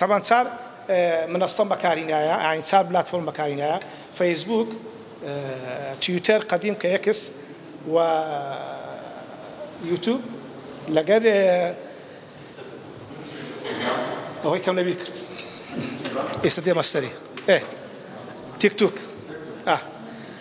تەبان چار منەسەم بەکاری نایە ئاین چار بلاتفۆرم بەکاری نایە فەیسبووک تیوتەر قەدیم کە یەکس و یوتوب لەگەر ئەوەی کەم لەبیر کرد ئێستا دێمە سەری تیک توک ئە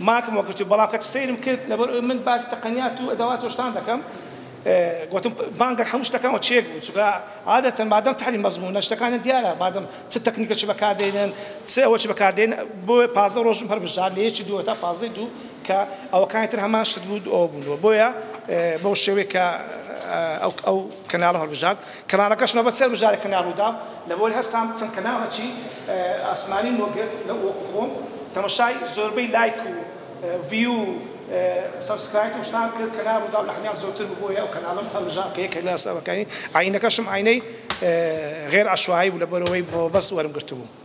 ماکم وە گرتوو بەڵام کەت سەیرم کرد لەبەر ئەوی من باسی تەقەنیات و ئەدەوات و شتان دەکەم گۆتم بانگەر هەموو شتەکان وە چێک بوو چونکە عادەتەن مادەم تەحری مەزموونە شتەکانیان دیارە مادەم چ تەکنیکەکی بەکار دێنن چ ئەوەکی بەکار دێن بۆیە پازدە ڕۆژم هەر بژار لە یەکی دووە تا پازدەی دوو کە ئەوەکانی تر هەمان شت بوو ئەوە بوون بۆیە بەو شێوەیە کە ئەو کەناڵە هەڵبژارد کەناڵەکەش مەبە چەر مژارێک کەناڵ رووداو لەبەوەی هەستام چەند کەناڵەکی ئاسمانیم بۆ گرت لە وەکو خۆم تەمەشای زۆربەی لایک و ڤیو و سەبسکرایت و شتان کرد کەناڵ رووداو لە هەمیان زۆرتر بوو بۆیە ئەو کەناڵەم هەلبژارد کە یەکێک لە سەبەکانی ئاینەکەشم ئاینەی غێر عەشوایی بوو لەبەرئەوەی مەبەست وەرم گرتبوو.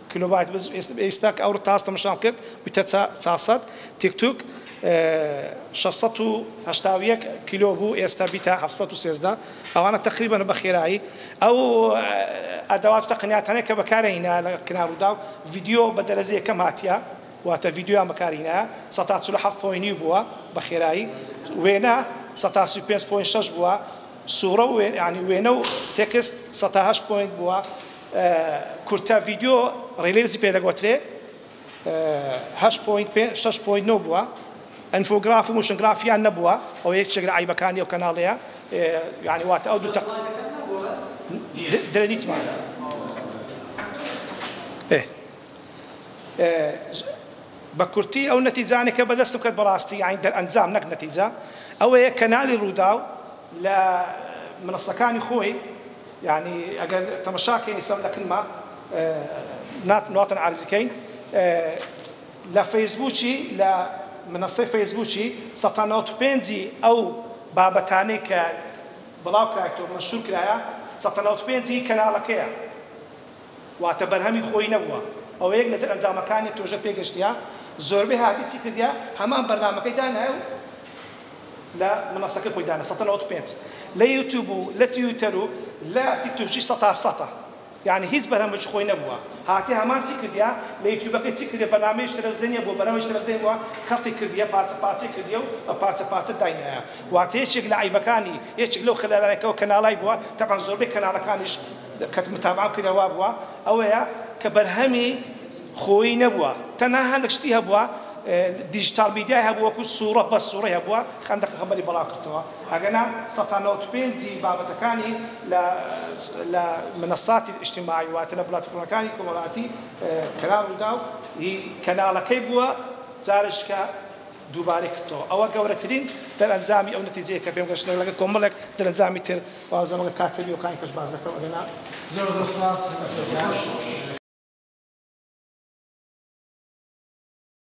کیلۆبایت بس ئیستا کە ئەو ڕتاستەم نشان کرد بویتە چا چار سەد تیک توک شەش سەد و هەشتا و یەک کیلۆ بوو ئێستا بیتە هەفت سەد و سێزدە ئەوانە تەقریبەن بە خێرایی ئەو ئەدەوات و تەقنیاتانەی کە بەکارە هینایە لە کنا ڕووداو ڤیدیۆ بە دەرەجە یەکەم هاتیە واتە ڤیدیۆیان بەکار هینایە سەد تا چل و حەفت پۆی نیو بووە بە خێرایی وێنە سەد تا سی و پێنج پۆی شەش بووە سوورە و یانی وێنە و تێکست سەد تا هەشت پۆینت بووە کورتە ڤیدیۆ ڕیلیزی پێ دەگۆترێ هەشت پۆینت پێ شەش پۆینت نۆ بووە ئەنفۆگراف و موشنگرافیان نەبووە ئەو یەکێک لە عیبەکانی ئەو کەناڵەیە یعنی واتە ئەو دوو تەق درەنیتمان بە کورتی ئەو نەتیجانێکە بەدەستم کرد بەڕاستی یعنی دەرئەنجام نەک نەتیجە ئەوەیە کەنالی ڕووداو لە منصەکانی خۆی یانی ئەگەر تەمەشا کەین ئیسە لە کنما نات ناتن عەرز کەین لە فەیسبووکی لە منەسەی فەیسبووکی سەتا نەوەد و پێنج ی ئەو بابەتانەی کە بڵاو کرایەتەوە مەنشور کرایە سەتا نەوەد و پێنج ی کەنالەکەیە واتە بەرهەمی خۆی نەبووە ئەوە یەک لە دەرئەنجامەکانی پرۆژە پێگەشتیە زۆربەی هاتیە چی کردیە هەمان بەرنامەکەی دانایە و لە منەسەکەی خۆی دانە سەتە نەوەد و پێنج لە یوتوب و لە تویتەر و لە تیکتوکیش سەتا سەتە یعنی هیچ بەرهەمێکی خۆی نەبووە هاتیە هەمان چی کردیە لە یوتوبەکەی چی کردیە بەرنامەیش تەلەفزێنیە بۆ بەرنامەیش تەلەفزێن بووە کەڵتی کردیە پارچە پارچەی کردیە و بە پارچە پارچە داینایە واتە یەکێک لە عەیبەکانی یەکێک لەو خەلەلانەی کەو کەناڵای بووە تەبعەن زۆربەی کەناڵەکانیش کەت متابعە بکەیتە وا بووە ئەوەیە کە بەرهەمی خۆیی نەبووە تەنها هەندەک شتی هەبووە دیجیتال میدیای هەبوو وەکو سوڕە بەس سوڕەی هەبووە خەندەق پێخەمبەری بەڵاو کردەوە ئەگەنا سەد تا نەوەد و پێنج ی بابەتەکانی لە لە منەساتی ئیجتماعی واتە لە بلاتفۆرمەکانی کۆمەڵاتی کەناڵ ڕوداو ی کەناڵەکەی بووە جارێشکە دووبارەی کردەوە ئەوە گەورەترین دەرئەنجامی ئەو نەتیجەیە کە پێم گەشتنە لەگەڵ کۆمەڵێک دەرەنجامی تر وازەم لە کاتە بیەوەکانی کەش باس دەکەم ئەگەنا زۆر زۆر سپاس